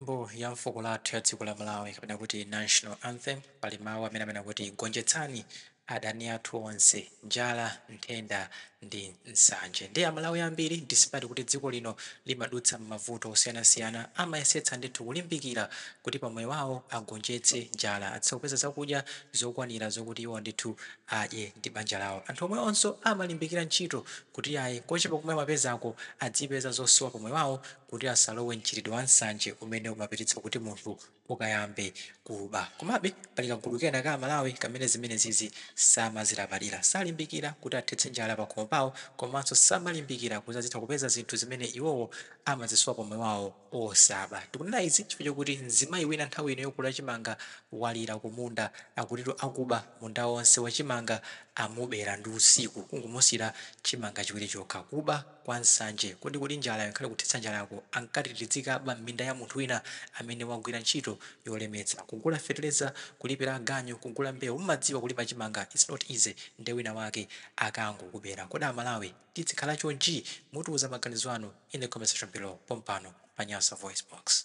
Nyimbo ya fuko lathu ya dziko la Malawi kapena kuti National Anthem pali mawu amene amanena kuti gonjetsani adani athu onse, njala, nthenda ndi nsanje. Ndiye Amalawi ambiri despite kuti dziko lino limadutsa m'mavuto osiyanasiyana amayesetsa ndithu kulimbikira kuti pa moyo wawo agonjetse njala, athe kupeza zakudya zokwanira zokuti iwo ndithu adye ndi banja lawo. Anthu omwewonso amalimbikira ntchito kuti ayi kochepa komwe amapezako adzipeza zosowa pa moyo wawo. kuti asalowe m'mchitidwe wa nsanje umene umapititsa kuti munthu ukayambe kuba. Komabe, pali kagulu kena ka Amalawi kamene zimenezizi samazilabadira. Salimbikira kuti athetse njala pakhomo pawo komanso samalimbikira kuti azitha kupeza zinthu zimene iwowo amazisowa pamoyo wawo osaba. Ndikunena izi chifukwa chokuti mzimayi wina nthawi ino yokolola chimanga walira kumunda. Akutitu akuba munda wonse wa chimanga amubera ndi usiku, kungomusiyira chimanga chiwiri chokha. Kuba! kwa nsanje. Kodi kuti njalayo inkhale kuthetsa njalako, ankati tidzikaba m'minda ya munthu wina amene wagwira ntchito yolemetsa? Kugula feteleza, kulipira aganyu, kugula mbewu. Mumadziwa kulima chimanga, its not easy nde wina wake akangokubera. Kodi amalawi tidzikhala chonchi? Mutiuza maganizo anu in the comment section below pompano pa Nyasa VoiceBox.